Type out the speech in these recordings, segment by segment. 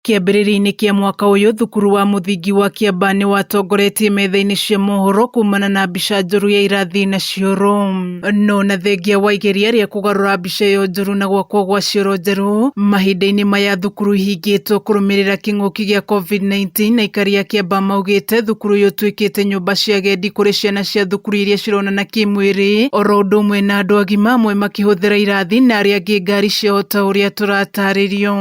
Kĩambĩrĩria-inĩ kĩa mwaka ũyũ thukuru wa mũthingi wa Kĩamba nĩ watongoretie metha-inĩ cia mohoro kumana na mbica njũru ya irathi na cioro. No na thengia wa igeria rĩa kũgarũra mbica ĩyo njũru na gwakwo gwa cioro njerũ, mahinda-inĩ maya thukuru ihingĩtwo kũrũmĩrĩra kĩng'ũki gĩa COVID-19, aikari a Kĩamba maugĩte thukuru ũyũ ũtuĩkĩte nyũmba cia agendi kũrĩ ciana cia thukuru iria cironana kĩmwĩrĩ, oro ũndũ ũmwe na andũ agima amwe makĩhũthĩra irathi na arĩa angĩ ngari ciao ta ũrĩa tũratarĩrio.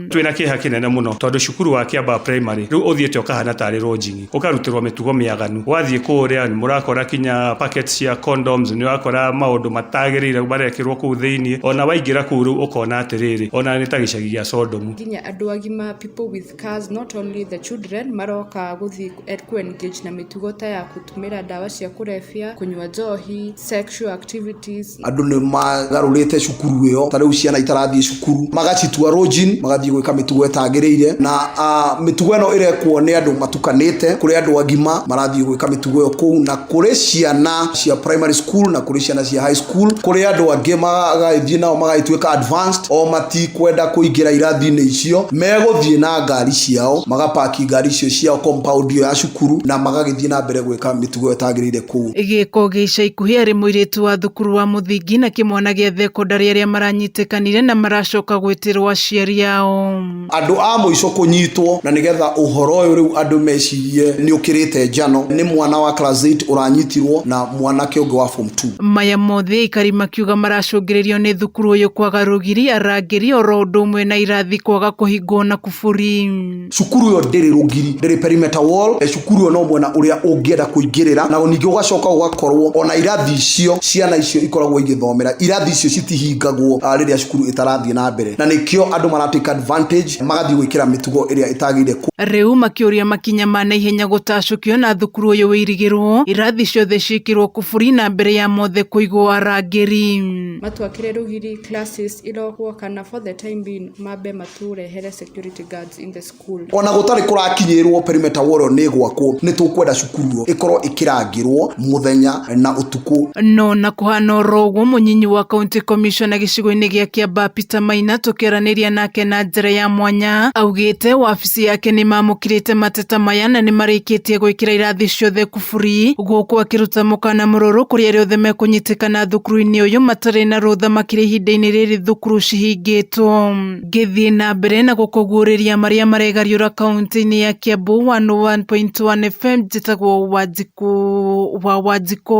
Twĩ na kĩeha kĩnene mũno tondũ cukuru wa Kĩambaa Primary rĩu ũthiĩte ũkahana tarĩ lodging, ũkarutĩrwo mĩtugo mĩaganu. Wathiĩ kũũrĩa nĩ mũrakora kinya packets cia condoms, nĩ ũrakora maũndũ matagĩrĩire marekĩrwo kũu thĩiniĩ. Ona waingĩra kũu rĩu ũkona atĩrĩrĩ, ona nĩ ta gĩcagi gĩa Sodomu. Nginya andũ agima, people with cars, not only the children, maroka gũthiĩ ĩkue nikech na mĩtugo ta ya gũtũmĩra ndawa cia kũrebia, kũnyua njohi, sexual activities. Andũ nĩ magarũrĩte cukuru ĩyo, ta rĩu ciana itarathiĩ cukuru, magacitua rũnjini, magathiĩ gwĩka mĩtugo ĩtagĩrĩire, na mĩtugo ĩno ĩrekwo nĩ andũ matukanĩte, kũrĩ andũ agima marathiĩ gwĩka mĩtugo ĩyo kũu na... kũrĩ ciana cia primary school na kũrĩ ciana cia high school kũrĩ andũ angĩ magagĩthiĩ nao magagĩtuĩka advanced o matikwenda kũingĩra irathi-inĩ icio megũthiĩ na ngari ciao magapaki ngari icio ciao compound iyo ya cukuru na magagĩthiĩ na mbere gwĩka mĩtugo ĩtagĩrĩire kũu Gĩko gĩa ica ikuhĩ arĩ mũirĩtu wa thukuru wa mũthingi na kĩmwana gĩa thekondarĩ arĩa maranyitĩkanire na maracoka gwĩtĩrwo aciari ao. Andũ a mũico kũnyitwo na nĩgetha ũhoro ũyũ rĩu andũ mecirie nĩ ũkĩrĩte njano nĩ mwana wa class 8 ũranyitirwo na mwanake ũngĩ wa form 2. Maya mothe aikari makiuga maracũngĩrĩrio nĩ thukuru ũyũ kwaga rũgiri, arangĩri oro ũndũ ũmwe na irathi kwaga kũhingwo na kuburi. Cukuru ĩyo ndĩrĩ rũgiri, ndĩrĩ perimeter wall. cukuru ĩyo no mwena ũrĩa ũngĩenda kũingĩrĩra na ningĩ ũgacoka ũgakorwo ona irathi icio ciana icio ikoragwo igĩthomera irathi icio citihingagwo ah, rĩrĩa cukuru ĩtarathiĩ na mbere na nĩkĩo andũ maratake advantage magathiĩ gwĩkĩra mĩtugo ĩrĩa ĩtagĩrĩire ku- Rĩu makĩũria makinya ma naihenya gũtacũkio na thukuru ũyũ wĩirigĩrwo irathi ciothe ciĩkĩrwo kũburi na mbere ya mothe kũigwo arangĩri. matwakĩre rũgiri classes irogwo kana for the time being mambe matũrehere security guards in the school ona gũtarĩ kũrakinyĩrwo perimeter wall ĩyo nĩ gwakwo nĩ tũkwenda cukuru ĩyo ĩkorwo ĩkĩrangĩrwo muthenya na ũtukũ No na kũhana oro ũguo mũnyinyi wa county commissioner gĩcigo-inĩ gĩa Kĩambaa Peter Maina tũkĩaranĩria nake na njĩra ya mwanya augĩte wabici yake nĩ mamũkĩrĩte mateta maya na nĩ marĩkĩtie gwĩkĩra irathi ciothe kuburi gũkũ akĩruta mũkana mũrũrũ kũrĩ arĩa othe mekũnyitĩkana thukuru-inĩ ũyũ matarĩ na rũtha makĩria ihinda-inĩ rĩrĩ thukuru cihingĩtwo. Ngĩthiĩ na mbere na gũkũguũrĩria marĩa maregariũra kaunti-inĩ ya Kiambu 101.1 FM njĩtagwo Wanjikũ wa Wanjikũ.